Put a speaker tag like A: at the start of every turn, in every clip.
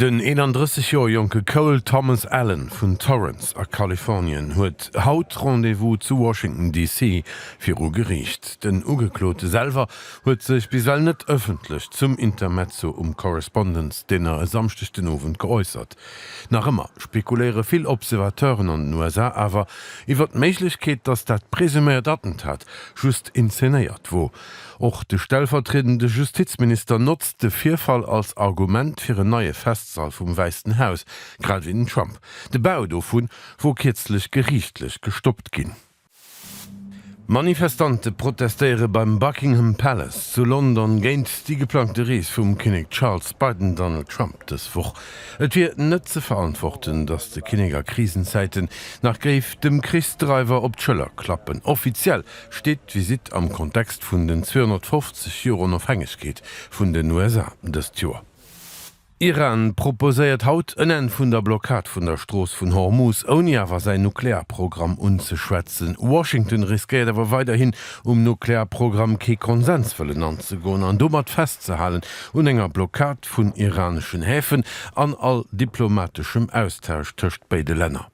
A: Den 31 Joer jonke Cole Thomas Allen vun Torrance a Kalifornien huet haut Rendez-vous zu Washington DC. Viru Geriicht. Den Ugeklote selwer huet sech bis well net ëffentlech zum Intermezzo um Correspondents Dinner e Samschdeg den Owend geäussert. Nach ëmmer spekuléiere vill Observateuren an den USA awer iwwert d'Méiglechkeet, datt dat presuméiert Attentat just inzenéiert wor. Och de stellvertriedende Justizminister notzt de Virfall als Argument fir en neie Festsall vum Wäissten Haus, grad ewéi den Trump. De Bau dovu wor kierzlech geriichtlech gestoppt ginn. Manifestante protestéiere beim Buckingham Palace zu London géint déi geplangte Rees vum Kinnek Charles bei den Donald Trump dës Woch. Et wier net ze verantworten, datt de Kinnek a Krisenzäiten nach géif dem Krichsdreiwer op d'Schëller klappen. Offiziell steet d'Visitt am Kontext vun den 250 Joer Onofhängegkeet vun den USA dëst Joer. Iran proposéiert haut en Enn vun der Blockad vun der Strooss vun Hormuz, ouni awer säin Nuklearprogramm unzeschwätzen. Washington riskéiert awer weiderhin, um Nuklearprogramm kee Konsens wëllen anzegoen an domat festzehalen un enger Blockad vun iraneschen Häfen an all diplomateschem Austausch tëscht béide Länner.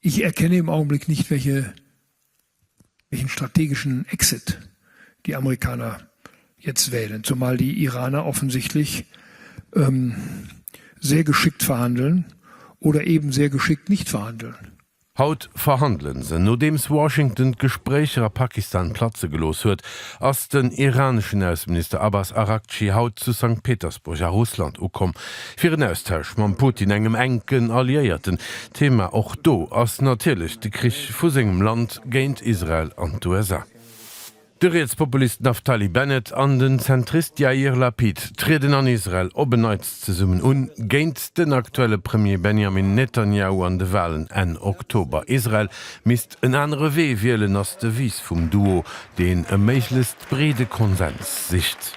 A: Ich erkenne im Augenblick nicht, welche, welchen strategischen Exit die Amerikaner jetzt wählen, zumal die Iraner offensichtlich ähm, sehr geschickt verhandeln oder eben sehr geschickt nicht verhandeln. Haut verhandelen se. Nodeems Washington d'Gespréicher a Pakistan platze gelooss huet, ass den iraneschen Ausseminister Abbas Araghchi haut zu Sankt Petersburg a Russland ukomm, fir en Austausch mam Putin, engem enken Alliéierten, Thema och do ass natierlech de Krich vu sengem Land géint Israel an d'USA. De Rietspopulist Naftali Bennett an den Zentrist Yair Lapid trieden an Israel op en Neits zesummen un, géint den aktuelle Premier Benjamin Netanjahu an de Walen Enn Oktober. Israel misst en anere Wee wielen, ass d'Devise vum Duo, deen e méiglechst breede Konsens sicht.